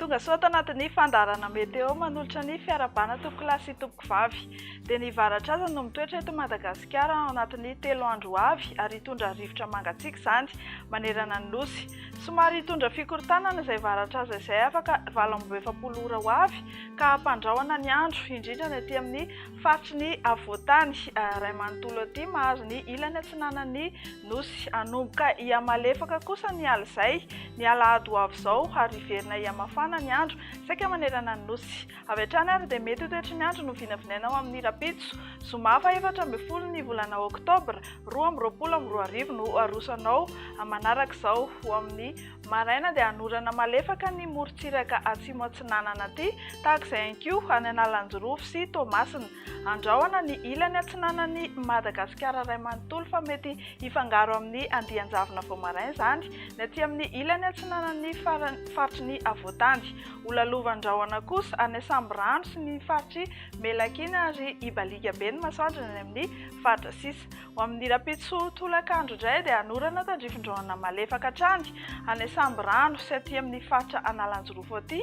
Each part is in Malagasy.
Tongasoa tao anatin'ny fandaharana Météo manolotra ny fiarahabana tompokolahy sy tompokovavy. Dia ny varatraza no mitoetra eto Madagasikara ao anatin'ny telo andro ho avy ary hitondra rivotra mangatsiaka izany manerana ny Nosy. Somary hitondra fikorontanana izay varatraza izay afaka valo amby roa efapolo ora ho avy. ka hampandrahona ny andro, indrindra ny aty amin'ny faritry ny afovoan-tany iray manontolo aty mahazo ny ilany atsinanan'ny Nosy. Hanomboka hihamalefaka kosa ny alizay, ny alahady ho avy izao, ary hiverina hihamafana ny andro saika manerana ny Nosy. Avy hatrany ary dia mety ho toetry ny andro no vinavinaina ho amin'ny rahampitso, zoma fahefatra ambin'ny folo ny volana oktobra roa amby roapolo amby roa arivo no aroso anao manarak'izao ho amin'ny Maraina dia hanorana malefaka ny morontsiraka atsimo atsinanana aty, tahaka izay ihany koa any Analanjirofo sy Toamasina. Andrahona ny ilany atsinanan'i Madagasikara iray manontolo fa mety hifangaro amin'ny andian-javona vao maraina izany ny aty amin'ny ilany atsinanan'ny faritry ny Havoantany. Holalovan-drahona kosa any Sambirano sy ny faritr'i Melakiana ary hibaliaka be ny masoandro any amin'ny faritra sisa. Ho amin'ny rahampitso tolakandro indray dia hanorana tandrifin-drahona malefaka hatrany any Asambirano sy aty amin'ny faritra Analanjirofo aty,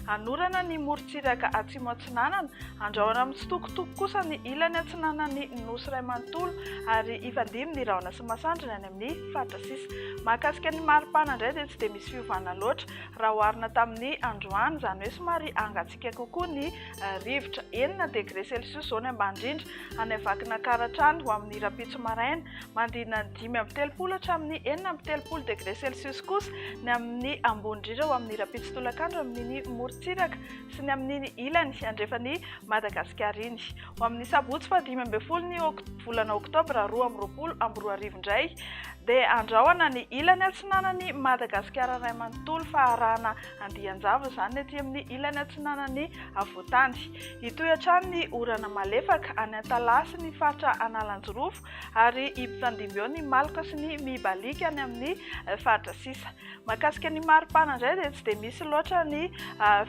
hanorana ny morontsiraka atsimo atsinanana, handrahona mitsitokotoko kosa ny ilany atsinanan'ny Nosy iray manontolo ary hifandimby ny rahona sy masoandrony any amin'ny faritra sisa. Mahakasika ny maripana indray dia tsy dia misy fiovana loatra raha oharina tamin'ny androany, izany hoe somary Mivantana kokoa ny rivotra, enina degre celsius izao ny ambany indrindra, any Vakinankaratra hatrany ho amin'ny rahampitso maraina. Mandinona ny dimy amby telopolo hatramin'ny enina amby telopolo degre celsius kosa ny amin'ny ambony indrindra ho amin'ny rahampitso tolakandro amin'iny morontsiraka sy ny amin'iny ilany andrefan'i Madagasikara iny. Ho amin'ny sabotsy fahadimy ambin'ny folo ny volana oktobra roa amby roapolo amby roa arivo indray dia andrahona ny ilany atsinanan'i Madagasikara iray manontolo fa arahana Andian-java izany ny aty amin'ny ilany atsinanan'ny havoantany. Hitohy hatrany ny orana malefaka any Antalaha sy ny faritra Analanjirofo ary himpifandimby eo ny maloka sy ny mibalika any amin'ny faritra sisa. Mahakasika ny maripana indray dia tsy dia misy loatra ny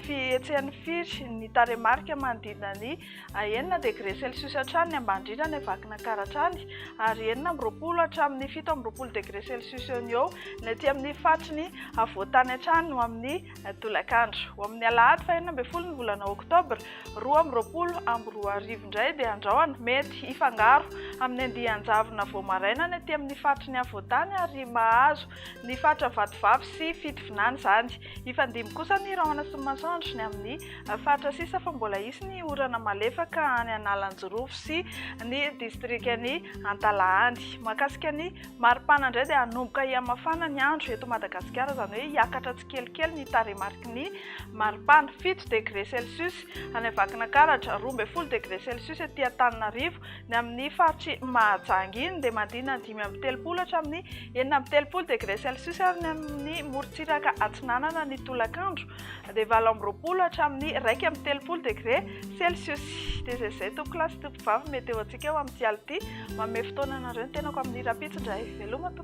fihetsehan'ny firy ny tarehimarika manodidina ny A Enina degre celsius hatrany ny ambany indrindra any Vakinankaratra hatrany, ary enina amby roapolo hatramin'ny fito amby roapolo degre celsius eo no eo ny aty amin'ny faritry ny afovoan-tany hatrany ho amin'ny tolakandro. Ho amin'ny alahady fahenina ambin'ny folo ny volana oktobra roa amby roapolo amby roa arivo indray dia andraoana mety hifangaro amin'ny andian-javona vao maraina ny aty amin'ny faritry ny afovoan-tany ary mahazo ny faritra Vatovavy sy Fitovinany izany. Hifandimby kosa ny rahona sy ny masoandro ny amin'ny faritra sisa fa mbola hisy ny orana malefaka any Analanjirofo sy ny distrikan'i Antalahany. Mahakasika ny maripana indray dia hanomboka hihamafana ny andro eto Madagasikara, izany hoe hiakatra tsikelikely ny tarehimariky ny maripana, fito degre celsius any Vakinankaratra, roa ambin'ny folo degre celsius ety Antananarivo, Iavoloha. Ny amin'ny faritr'i Mahajanga iny dia mandina dimy amby telopolo hatramin'ny enina amby telopolo degré celcius ary ny amin'ny morontsiraka atsinanana ny tolakandro dia valo amby roapolo hatramin'ny iraika amby telopolo degré celcius. Dia izay izay tompokolahy sy tompovavy meteo antsika eo amin'ity alina ity. Manome fotoana anareo ny tenako amin'ny hira pitsy indray. Veloma tompoko.